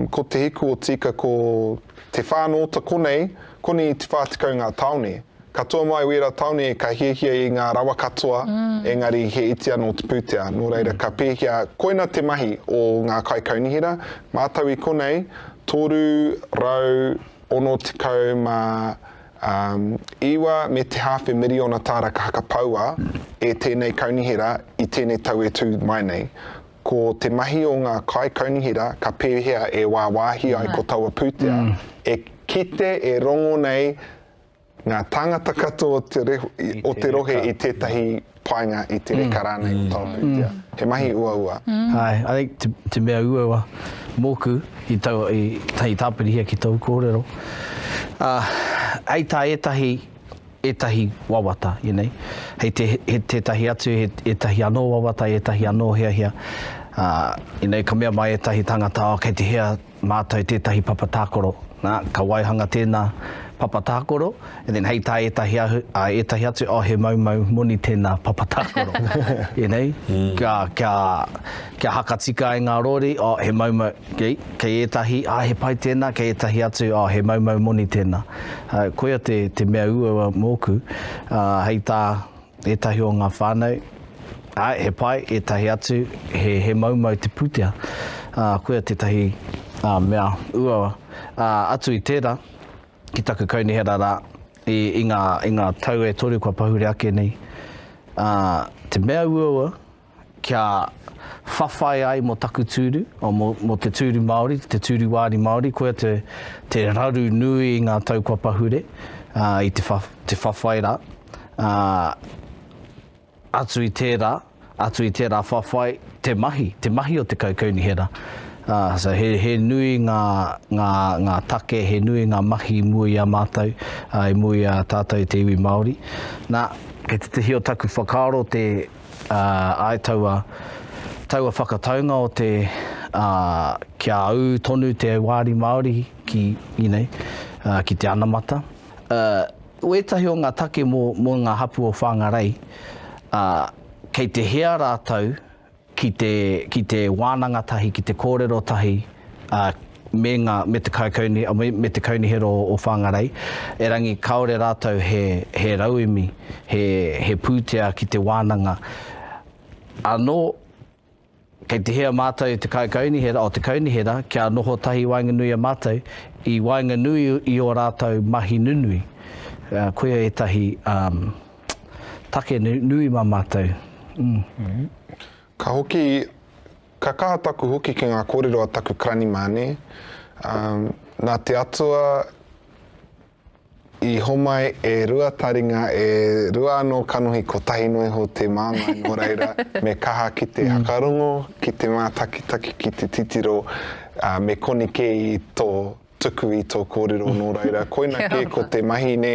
ko Te Hiku o Tika ko Te Whānōta konei, konei i te whā tekau ngā tāone. Katoa mai wēra taone ka hiahia i ngā rawa katoa, engari he iti anō te pūtea. Nō reira ka pēhia koina te mahi o ngā kaikaunihera, mātau i konei, 369 me te hāwhe miriona tāra ka hakapaua e tēnei kaunihera i tēnei tau e tū mai nei. Ko te mahi o ngā kaikaunihera ka pēhea e wāwāhi ai ko taua pūtea e kite e rongo nei Ngā tāngata katoa o te rohe i tētahi painga i te reka rānei o Tāwhiria. He mahi uaua. Āe, I think te, te mea uaua mōku i tau, i, hei tāpirihia ki tōu kōrero, uh, hei tā ētahi, ētahi wawata, you know, hei te, he tētahi atu, he, ētahi anō wawata, ētahi anō hiahia, uh, you know, ka mea mai ētahi tāngata, oh, kei te hea, Mātou tētahi papa tākaro. Nā, ka waihanga tēnā papa tākaro, and then hei tā ētahi ahu, ā, ētahi atu, oh, he maumau moni tēnā papa tākaro. You know? Kia, kia, kia hakatika ai ngā rōri, oh, he maumau, kei, kei ētahi, ā, he pai tēnā, kei ētahi atu, oh, he maumau moni tēnā. Koia te, te mea uaua mōku, ā, hei tā. Ētahi o ngā whānau, āe, he pai, ētahi atu, he, he maumau te pūtea. Ā, koia tētahi, ā, mea uaua. Ā, atu i tērā, ki taku kaunihera rā, i, i ngā, i ngā tau e toru kua pahure ake nei, ā, te mea uaua, kia whawhai ai mo taku tūru, mo te tūru Māori, te tūru wāri Māori, koia te raru nui i ngā tau kua pahure, i te whawhai rā, atu i tērā, atu i tērā whawhai, te mahi, te mahi o te kaukaunihera. So he nui ngā take, he nui ngā mahi i mua i a mātou, i mua i a tātou te iwi Māori. Nā, kei tētahi o taku whakaaro te Ā, āe taua, taua whakataunga o te, ā, kia ū tonu te wāri Māori ki, you know, ā, ki te anamata. Ā, wētahi o ngā take mō, mō ngā hapū o Whāngarei, ā, kei te hea rātou ki te, ki te wānanga tahi, ki te kōrero tahi, ā, me nga me te kaikauni me te kaunihera o Whangarei erangi kaore ratou he he rauemi he he putea ki te wananga ano kei te hea matou te kaikaunihera o te kaunihera kia noho tahi waenganui a matou i waenganui i o ratou mahi nunui koia etahi um, take nui ma matou mm. Ka hoki Ka kaha taku hoki ki ngā kōrero a taku Karanimāne, ā, nā te Atua i homai e rua taringa, e rua anō kanohi kotahi noa iho te māngai nō reira me kaha ki te whakarongo, ki te mātakitaki, ki te titiro, ā, me koni kē i tō. tuku i tō kōrero nō reira, koina kē ko te mahi nē,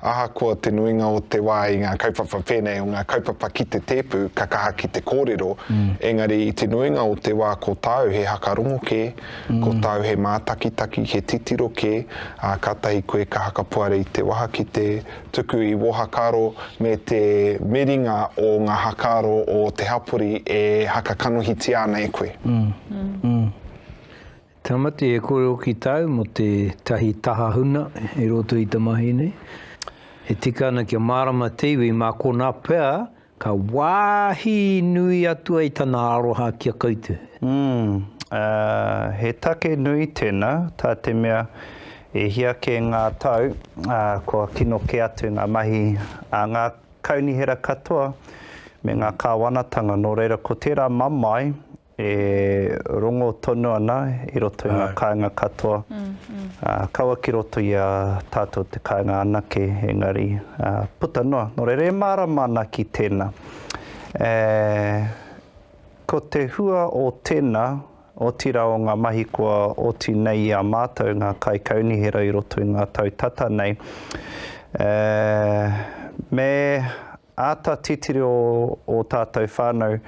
ahakoa te nuinga o te wā i ngā kaupapa pēnei o ngā kaupapa ki te tēpu ka kaha ki te kōrero, mm. engari i te nuinga o te wā ko tāu he hakarongo kē, mm. ko tāu he mātakitaki, he titiro kē, ā, kātahi koe ka hakapoare i te waha ki te tuku i wō hakaro me te miringa o ngā hakaro o te hapori e hakakanohitia ana e koe. Mm. Mm. mm. Tamati e korero ki tau mo te tahi taha huna i roto i ta mahi nei. E tika ana kia marama te iwi ma kona pea ka wahi nui atu ai tana aroha ki a koutou. Umm, he take nui tena, ta te mea e hia ke nga tau, kua kino ke atu nga mahi a nga kaunihera katoa me nga kawanatanga no reira ko tera mamae E rongo tonu ana i roto i nga kaenga katoa, kaua ki roto i a tatou te kaenga anake, engari puta noa. No reira e marama ana ki tena. Ko te hua o tena, otira o nga mahi kua oti nei i a matou nga kaikaunihera i roto i nga tau tata nei, me Āta titiro ō tātou whānau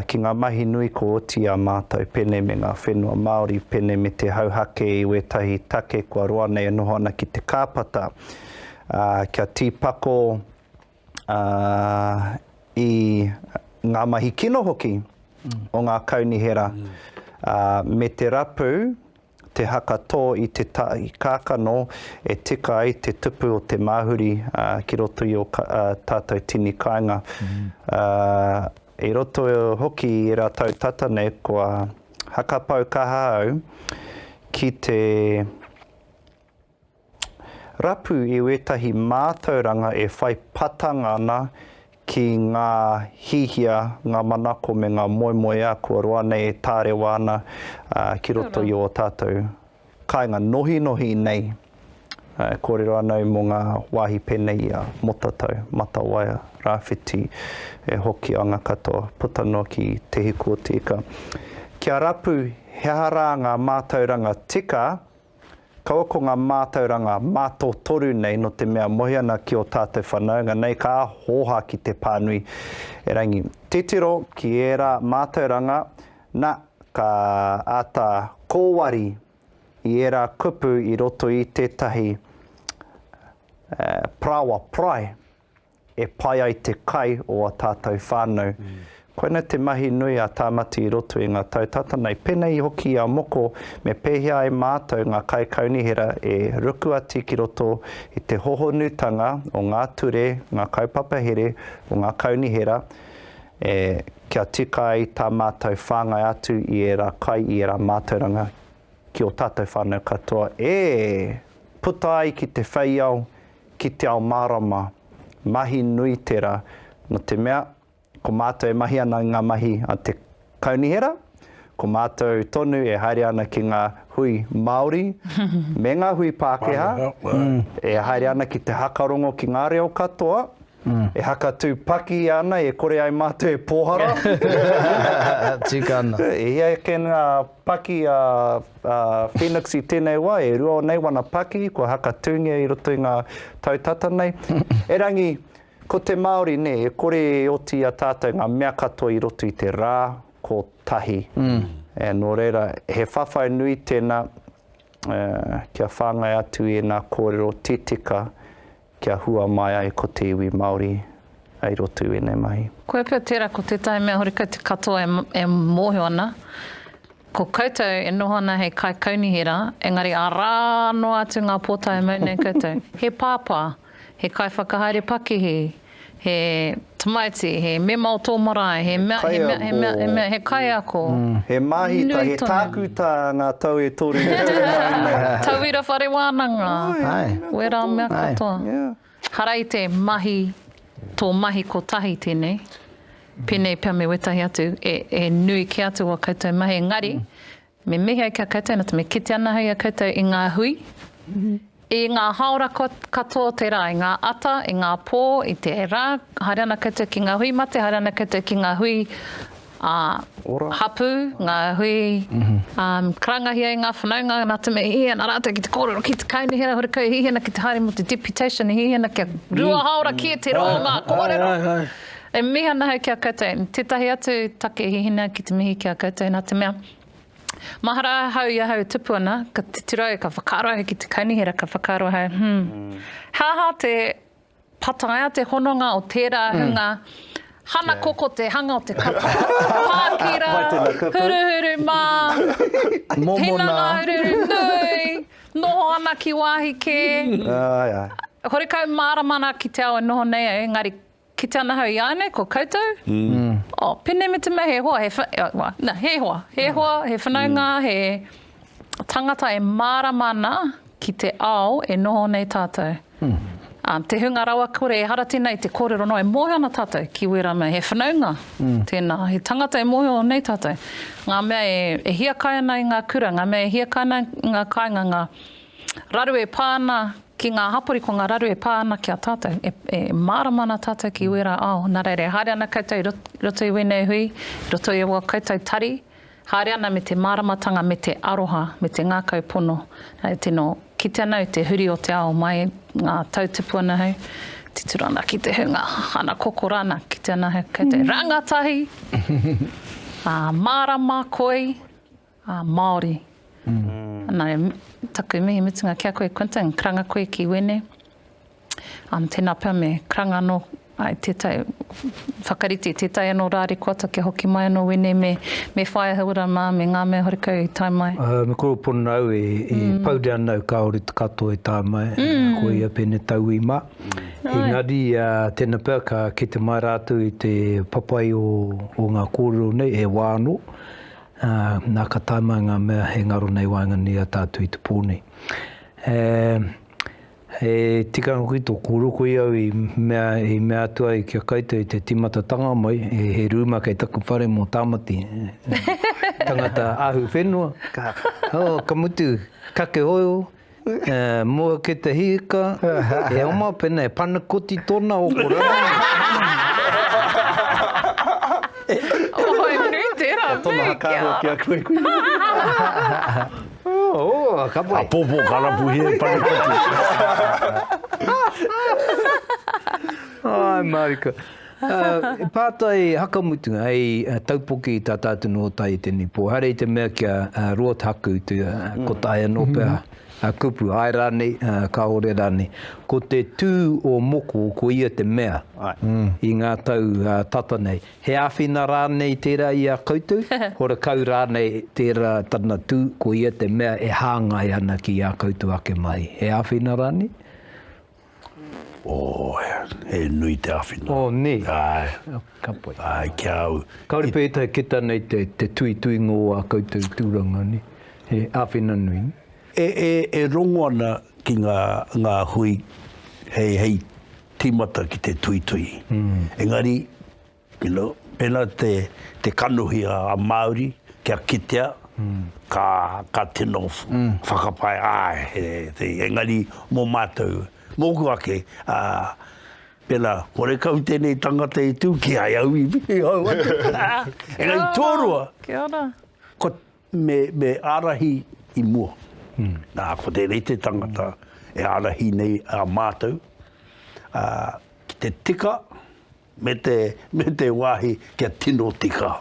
ki ngā mahi nui kua oti i a mātou pēnei me ngā whenua Māori pēnei me te hauhake i wētahi take kua roa nei e noho ana ki te kāpata kia tīpako i ngā mahi kino hoki o ngā kaunihera me te rapu Te haka tō i te tahi kākano e tika ai te tupu o te māhuri ki roto i ō tātou tini kāinga. I roto hoki i ērā tau tata nei kua hakapau kaha au ki te Rapu i wētahi mātauranga e whai patanga ana ki ngā hihia, ngā manako me ngā moemoeā kua roa nei e tārewa ana ki roto i ō tātou kāinga nohinohi nei. E kōrero ana au mō ngā wāhi pēnei i a Motatau, Matawaia, Rāwhiti, e Hokianga katoa, puta noa ki Te Hiku-o-te-Ika. Kia rapu he aha rā ngā mātauranga tika Kaua ko ngā mātauranga mātotoru nei nō te mea mohi ana ki ō tātou whanaunga nei ka hōhā ki te pānui erangi. Titiro ki ērā mātauranga, nā, ka āta kōwari i ērā kupu i roto i tētahi paraoa, parae. e pai ai te kai o a tātou whānau. Koina te mahi nui a Tāmati i roto i ngā tau tata nei. Pēnei hoki i a moko, me pēhea ai mātou ngā kaikaunihera e rukuati ki roto i te hohonutanga o ngā ture, ngā kaupapa here o ngā kaunihera, e, kia tika ai tā mātou whāngai atu i ērā kai, i ērā mātauranga. ki o tātou whānau katoa e puta ai ki te wheiao, ki te ao mārama, mahi nui tera, no te mea, ko mātou e mahi ana i ngā mahi a te Kaunihera, ko mātou tonu e haere ana ki ngā hui Māori me ngā hui Pākehā, e haere ana ki te haka rongo ki ngā reo katoa, e haka tū paki ana e kore ai mātou e pōhara. Tika ana. E hia ake ngā paki a Phoenix i tēnei wā, e rua o nei wana paki kua haka tūngia i roto i ngā tau tata nei. Erangi, ko te Māori, nē, e kore e oti i a tātou ngā mea katoa i roto i te rā kotahi. E, nō reira, he whawhai nui tēnā kia whāngai atu i ēnā kōrero titika, Kia hua mai ai ko te iwi Maori ai rotu enei mahi. Koe pea tera ko tetahi mea horekau te katoa e mohio ana ko koutou e noho ana hei kai kaunihera engari ara noa atu nga pota e mau nei koutou. He papa, he kai whakahaere pakihi, He tamaiti, he mema o tō marae, he mea, he mea, he mea, he mea, he kaiako. He māhita, nui tonu. He tākuta ngā tau e toru e tū mai nei. Tauira whare wānanga. Ai. Wērā mea katoa. Ai. Yeah. Hara i te mahi, tō mahi kotahi tēnei. Pēnei pea me wētahi atu, e, e nui kē atu wā koutou mahi, engari, Me mihi ai ki a koutou, nō te mea kite ana hei a koutou i ngā hui, i ngā hāora katoa o te rā, i ngā ata, i ngā pō, i te rā, haere ana koutou ki ngā hui mate, haere ana koutou ki ngā hui hapū, ngā hui karangahia e ngā whanaunga, nā te mea i hihi ana rātou ki te kōrero, ki te kaunihera horekau, i hihi ana ki te haere mō te deputation, i hihi ana kia rua hāora kē te rō o ngā kōrero. E mihi ana ahau ki a koutou. Tētahi atu take he hina ki te mihi ki a koutou nā te mea, mahara ahau i ahau e tupu ana, ka titirau, ka whakaaro ahau ki te kaunihera, ka whakaaro ahau, hmm, he aha te pataia te hononga o tērā hunga hana koko te hanga o te kapa, pākira, huruhuru mā, hinanga uruuru nui, noho ana ki wāhi kē, horekau mārama ana ki te ao e noho nei au, engari Ki te anahau iānei ko koutou? Oh, pēnei me te mea he hoa, he wha, oh, wha, na, he hoa, he hoa, he whanaunga, he tangata e mārama ana ki te ao e noho nei tātou. Ā, te hunga rawakore ehara tēnā i te kōrero noa, e mōhio ana tātou ki wērā mea. He whanaunga tēnā, he tangata e mōhio nei tātou. Ngā mea e, e hiakai ana i ngā kura, ngā mea e hiakai ana i ngā kāinga, ngā. Raru e pā ana ki ngā hapori, ko ngā raru e pā ana ki a tātou, e, e mārama ana tātou ki wērā ao. Nā reira, e haere ana koutou i roto i wēnei hui, i roto i aua koutou tari, haere ana me te māramatanga, me te aroha, me te ngākau pono. Hei tino kite ana i te huri o te ao mai ngā tau tupu ana hei, titiro ana ki te hunga, ana kokora ana, kite ana hei koutou rangatahi, ā, mārama, koi, Ā, Māori. Nā, taku mihi mutunga ki a koe, Quinton, karanga koe ki wēnei. Um, tēnā pea me karanga anō ai tētai, whakarite tētai anō rārikoata kia hoki mai anō wēnei me, me whaia hauora mā, me ngā mea horekau i tae mai. Uh, me koro pono au e, e mm. pau rea nau kāore te katoa e tae mai, mm. ko ia pēne tau i mā. Engari, uh, tēnā pea ka kete mai rātou i te papai o, o ngā kōrero nei, e wā anō. Ā, nā ka tae mai ngā mea he ngaro nei waenganui i a tātou i te pō nei. Ē, he tikanga koe tō kōrero koe au i mea, i mea atu ai kia koutou i te tīmatatanga mai, he rūma kei taku whare mō Tāmati, tangata ahu whenua, ka, oh, ka mutu, kake oio, E mua ki te hika, e oma pena e panakoti tona o ko rangi. Ohai nui tera mea kia. Ko tona hakaroa ki a koe kui nei. Ooh, ka pai. Apopo ka rapuhia e panakoti. Ae marika. He pātai hakamutu hei taupoki i tā tātou nōtai i tēnei pō. Haere i te mea kia Robert Haku i te ko tae anō pea a kupu, ae rānei, kāore rānei. Ko te tū o moko ko ia te mea i ngā tau tata nei. He āwhina rānei tērā i a koutou? Horekau rānei tērā tana tū ko ia te mea e hāngai ana ki ā koutou ake mahi. He āwhina rānei? Oh, he nui te awhina. Oh, ne? Ae. Oh, ka pai. Ae, ki a au. Kaore pe etae ki ta nei te, te tui tui ngō a koutou tūranga, ne? He awhina nui, ne? E, e, e rongo ana ki nga, nga hui hei, hei timata ki te tui tui. Mm. Engari, You know, pēnā te, te kanohi a Māori kia kitea, ka, ka tino whakapae, āe, he, he, engari mō mātou, mōku ake, ā, pēnā, horekau tēnei tangata i tū, ki ai au iwi, i hau atu. Engari tōrua, ko, me, me ārahi i mua. Nā, ko tēnei te tangata e ārahi nei ā mātou, ā, ki te tika, Me te, me te wāhi kia tino tika.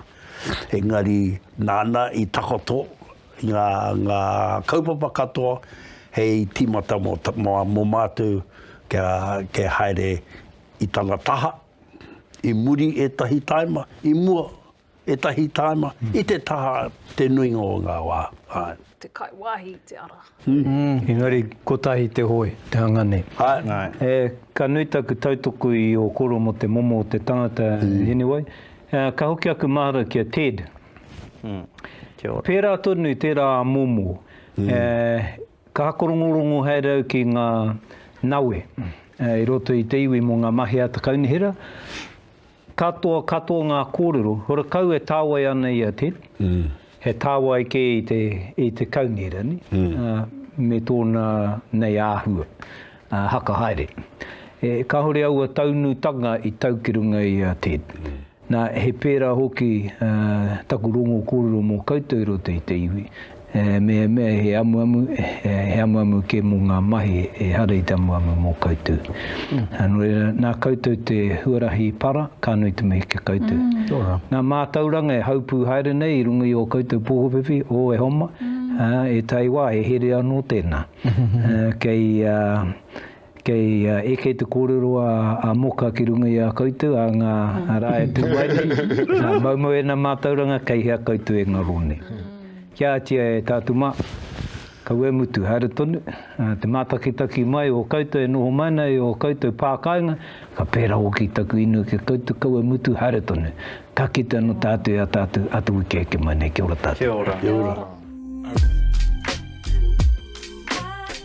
Engari, nāna i takoto ngā, ngā kaupapa katoa hei tīmata mō, mō, mō mātou kia, kia haere i tana taha, i muri ētahi tāima, i mua. Ētahi tāima, i te taha te nuinga o ngā wā, āe. Te kai wāhi i te ara. Engari kotahi te hoe, te hanga nei. Āe. Ka nui taku tautoko i ō koro mō te momo o te tangata, Hinewai. Ka hoki aku mahara ki a Ted. Kia ora. Pērā tonu i tērā momo, ka hakorongorongo haere au ki ngā nawe i roto i te iwi mō ngā mahi a te kaunihera. Katoa katoa ngā kōrero, horakau e tāwai ana i a Ted, he tāwai kē i te, i te kaungerani, me tōna nei āhua, haka haere. E, kāore aua taunutanga i tau ki runga i a Ted. Nā, he pērā hoki taku rongo kōrero mō koutou i roto i te iwi, He mehemea, he amuamu, he amuamu kē mō ngā mahi ehara i te amuamu mō koutou. Nō reira, nā koutou te huarahi para, ka nui te mihi ki a koutou. Ngā mātauranga e haupū haere nei i runga i ō koutou pōwhiwhi, ō, e homa, ā, ētahi wā he here anō tēnā. Kei. Kei eke te kōrero a a Moka ki runga i a koutou, a ngā rā e tū ai nei, nā, moumou ēnā mātauranga, kei hea koutou e ngaro nei? Kia ātia e tātou mā, kau e mutu, haere tonu, te mātakitaki mai o koutou e noho mai ana i ō koutou pā kāinga, ka pērā hoki taku inoi ki a koutou, kau e mutu, haere tonu, ka kite anō tātou i a tātou atu wiki eke mai nei. Kia ora tātou. Kia ora.